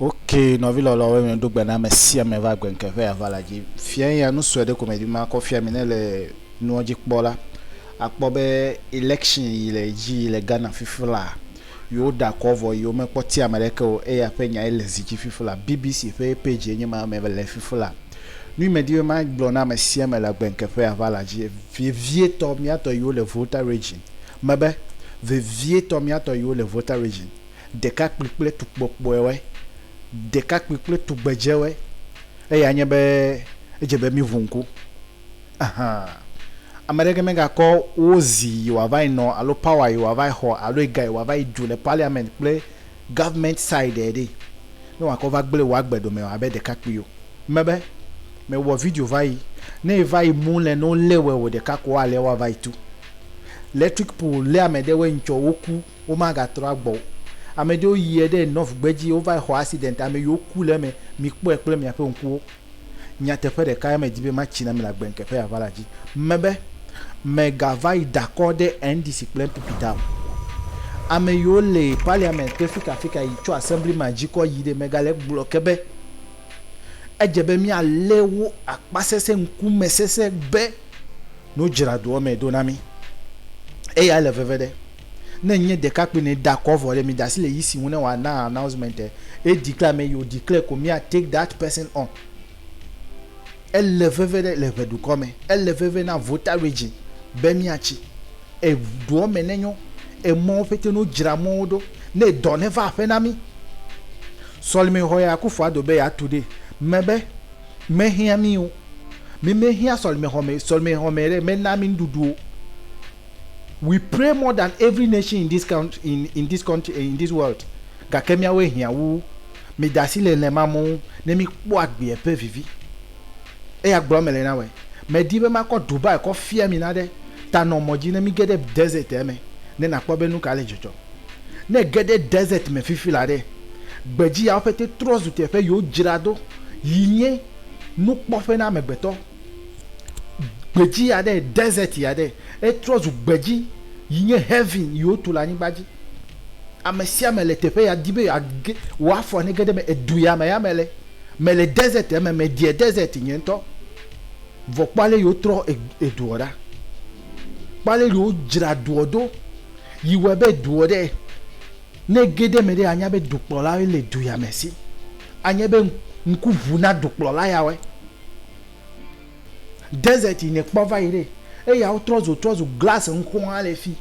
Ok nɔvi lɔlɔwo mi ɖo gbe na ame sia ame va gbe ŋke ƒe aʋa la dzi fia eya nu sue ɖe ko me di ma kɔ fia mi ne le nuɔ dzi kpɔ la akpɔ be election yi le dzi yi le Ghana fifi la yi wo ɖa kɔ vɔ yi wo me kpɔ ti ame ɖe ke o eya ƒe nya ye le zi dzi fifi la BBC ƒe page ye nye ma me le fifi la nu yi me di be ma gblɔ na ame sia ame le gbe ŋke ƒe aʋa la dzi vevie tɔ mia tɔ yi wo le Volta region me be vevie tɔ mia tɔ yi wo le Volta region ɖekakpui kple tukpɔkpɔewoe, ɖekakpui kple tugbedzewoe, eya nye be edze be míʋu ŋku. Ɛhɛ̃. Ame aɖeke megakɔ wo zi yi wòava yi nɔ alo power yi wòava yi xɔ alo ega yi wòava yi ɖu le parliament kple government side ɖe ne wòakɔ va gblẽ wò agbe ɖome o abe ɖekakpui o. Mebe, mewɔ video va yi, ne eva yi mu le ne wolé wɛ o ɖeka ko woalé woava yi tu. Electric pole lé ame ɖewoe ŋtsɔ woku. womagatrɔ agbɔ o. Ame ɖewo yiɛ ɖe Nov gbedzi wovayi xɔ accident ame yiwo ku le eme mi kpɔɛ kple miaƒe ŋkuwo. Nyateƒe ɖeka ya me di be matsi na mi le agbe ŋke ƒe aʋa la dzi me be me ga vayi dakɔ ɖe NDC kple NPP ta o. Ame yiwo le parliament kple fika fika yi tso assembly ma dzi kɔ yi ɖe me ga le gblɔ ke be edze be mia le wo akpa sese ŋku me sese be no dzra doɔ me ɖo na mi. Eya le veve ɖe. Ne nye ɖekakpui ne da kɔ vɔ ɖe mi da si le yi si ŋu ne wa na announcement e e declare me yo declare ko mia take that person on ele veve ɖe le ʋe dukɔ me ele veve na voter region be mia tsi e doɔ me ne nyo e mɔwo pete no dzra mɔwo ɖo ne dɔ ne va aƒe na mi sɔlime xɔ ya kufua do be ya tu ɖe me be me hia mi o mi me hia sɔlime xɔ me sɔlime xɔ me ɖe me na mi nuɖuɖu o. We pray more than every nation in this country in in this country in this world gake míawoe hiã wu wo. Mide asi le hlẽ ma mɔ ŋu ne míkpɔ agbeɛ ƒe vivi. Eya gblɔ mele na wɔe. Medi be makɔ Dubai kɔ fia mi naɖe ta nɔ mɔ dzi ne míge ɖe desert-ɛ me ne nakpɔ be nuka le dzɔdzɔm. Ne ège ɖe desert me fifi la ɖe, gbedzi yawo ƒete trɔ zu teƒe yi wodzra do yi nye nukpɔƒe na amegbetɔ. Gbedzi aɖe, desert aɖe. Etrɔ zu gbedzi yi nye heaven yi wotu le anyigba dzi. Ame sia ame le teƒe ya di be yeage, wò afɔ nege ɖe eme. Edu ya me ya mele. Mele desert ya me, medie desert nye ŋutɔ. Vɔ kpɔ ale yi wotrɔ eduɔ ɖa. Kpɔ ale yi wodzra duɔ do yi wɔe be duɔ ɖe. Ne ege ɖe eme ɖe, anya be dukplɔlawoe le du ya me si. Anye be ŋku ʋu na dukplɔla yawoe. Desert yi nèkpɔ va yi ɖe, eyawo trɔ zu trɔ zu glasi ŋkuwo hã le fi.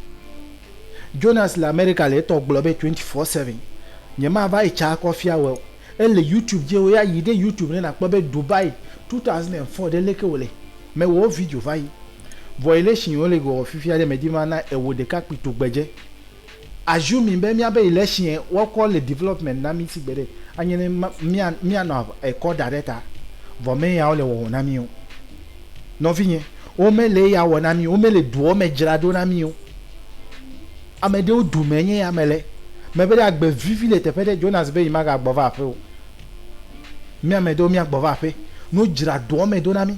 Jonas le Amerika le etɔ gblɔ be twenty four seven. Nyemava etsa akɔ fia wòe o. Ele YouTube dzi ewòe ya yi ɖe YouTube ne nàkpɔ be Dubai two thousand and four ɖe leke wòle. Mewɔ video va yi. Violation yi wole wɔ fifia ɖe medi be mana ewò ɖekakpui tugbedze. Assuming be míabe election woakɔ le development na mí sigbe ɖe anye ne mía míanɔ ekɔ da ɖe ta vɔ me yawo le wɔwɔ na mí o. Nɔvinye, wo me le eya wɔ na mí o, wo me le duɔ me dzra ɖo na mí o. Ame ɖewo du me nye ya me le. Me be ɖe agbe vivi le teƒe ɖe, Jonas be yi ma ga gbɔ va aƒe o. Mía ame ɖewo mía gbɔ va aƒe, ne wo dzra duɔ me ɖo na mí.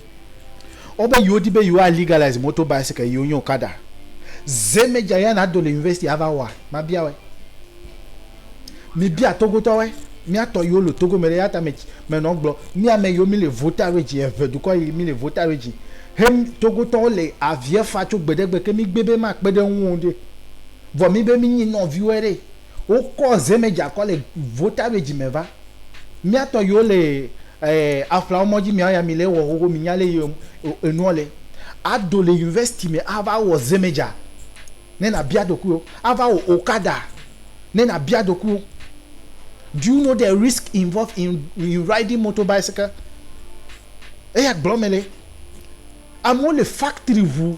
Wobe yewo di be yewo a legalize motor bicycle yewo nye okada. Ze me dza ya na do le university a va wɔa? Ma bia woe. Mi bia Togo tɔ woe. Mia tɔ yewo le Togo me ɖe ya ta me me nɔ gblɔ mi ame yewo mi le voter regi eŋe dukɔ yi mi le voter regi he Togo tɔ wo le aviɛ fa tso gbeɖegbe ke mi gbe be ma kpeɖe ŋuwo ɖe vɔ mi be mi nyi nɔviwoe ɖe. Wokɔ zemedza kɔ le vota be dzime va. Miatɔ yiwo le aflawo mɔdzi mia ya mi le wɔ xoxo mi nya le yi enuɔ le. Ado le university me a va wɔ zemedza ne na bia ɖokuiwo. A va wɔ okada ne na bia ɖokuiwo. Do you know the risk involved in in riding motor bicycle? Eya gblɔ me le. Amewo le factory ŋu.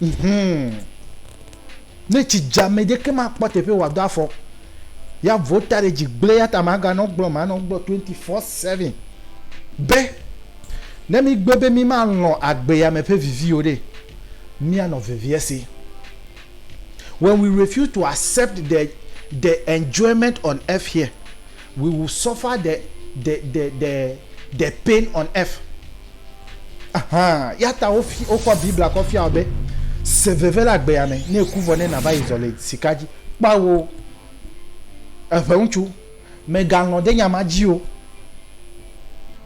Mhum. Ne tsi dza ame ɖeke makpɔ teƒe wòado afɔ. Ya vo ta ɖe dzi gblẽ yata maganɔ gblɔ manɔ gblɔ 24/7 be ne mígbe be mímalɔ̃ agbea me ƒe viviwo ɖe, míanɔ vevie si. When we refuse to accept the the enjoyment on earth here, We will suffer the the the the the pain on earth. Aha, yata wo fi wo kɔ Biblia kɔ fia be se veve le agbea me ne eku vɔ ne na va yi zɔ le sika dzi. Kpa wo. Eƒe ŋutsu, me galɔn de nya ma dzi o.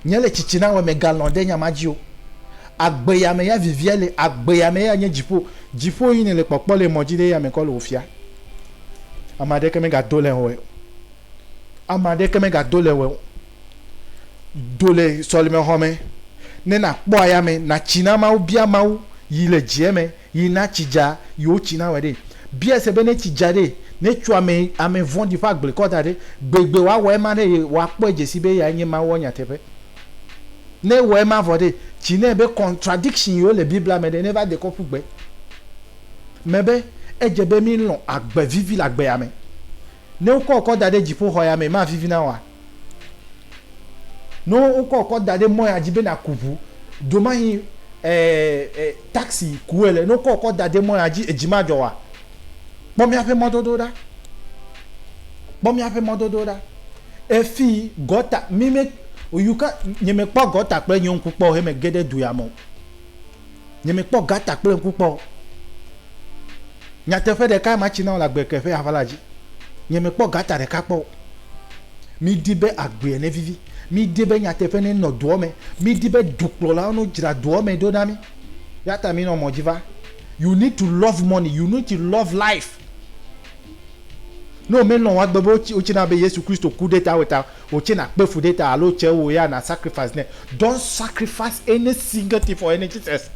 Nye le tsitsi na we me galɔn de nya ma dzi o. Agbea me ya vivia le agbea me ya nye dzipo. Dzipo yi ne le kpɔkpɔ le mɔ dzi de ya me kɔ le wo fia. Ama ɖeke me ga do le ho e. Ame aɖeke megado le wò o. Do le sɔlemexɔ me ne nàkpɔ ayame, nàtsi na Mawu, bia Mawu yi le dzieme yi na tsi dza yi wotsi na wòe ɖe. Biae se be ne tsi dza ɖe, ne tso ame ame vɔ̃ɖi ƒe agble kɔ da ɖe, gbegbe wòawɔ ema ɖe ye wòakpɔe dze sii be eyae nye Mawua nyateƒe. Ne ewɔ ema vɔ ɖe, tsi nɛ be contradiction yiwo le Biblia me ɖe neva de kɔ ƒu gbe me be edze be mílɔ̃ agbe vivi le agbe ya me. Ne wokɔ wò kɔ da ɖe dziƒoxɔ ya mee, mavivi na wòa? Ne wokɔ wò kɔ da ɖe mɔ ya dzi be nàku ʋu, domahi taksi ku ele, ne wokɔ wò kɔ da ɖe mɔ ya dzi, edzi madzɔ wòa? Kpɔ míaƒe mɔdodo ɖa. Kpɔ míaƒe mɔdodo ɖa. Efi gɔta, mi me, you can't, nyemekpɔ gɔta kple nye ŋku kpɔ o he mege ɖe du ya me o. Nye me kpɔ gata kple ŋku kpɔ o. Nyateƒe ɖeka ma tsi na wole agbe ke ƒe aʋa la dzi. Nye me kpɔ gata ɖeka kpɔ o. Mi di be agbea ne vivi. Mi di be nyateƒe ne nɔ doɔ me. Mi di be dukplɔlawo no dzra doɔ me ɖo na mi. Yata mi nɔ mɔ dzi va. You need to love money. You need to love life. Ne wome lɔn woa gbe be wotsi na be Yesu Kristo ku ɖe ta weta Wò tse na kpe fu ɖe ta alo tse wò ya na sacrifice nɛ. Don't sacrifice any single thing for any Jesus.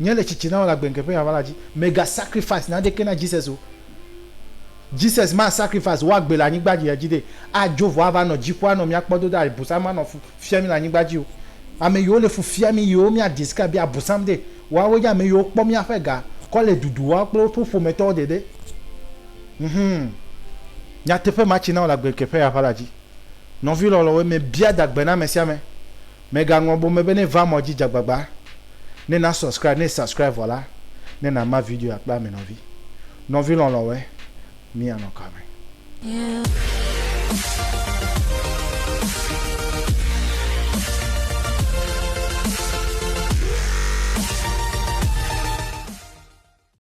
Nye le tsitsi na wò le agbenke ƒe aʋala dzi. Mèga sacrifice naɖeke na Jesus o. Jesus ma sacrifice wò agbe le anyigba dzi edzi ɖe adzo vɔ ava nɔ dziƒo anɔ mía kpɔ do ɖa abusam ma nɔ fu fia mí le anyigba dzi o. Ame yiwo le fu fia mí yiwo mía describe be abusam ɖe, woawoe nye ame yiwo kpɔ mía ƒe ga kɔ le dudu wɔm kple woƒe ƒometɔwo ɖeɖe. Mhmm. Nyateƒe ma tsi na wò le agbekeƒeya ƒe ala dzi. Nɔvi lɔlɔ̃woe mebia da gbe na ame sia ame. Mègaŋlɔ bome be ne èva mɔ dzi dze agbagba ne na subscribe, ne subscribe vɔ la, ne nàma videoya kple ame nɔvi. Nɔvi lɔlɔ̃woe, míanɔ ka me? Yeah.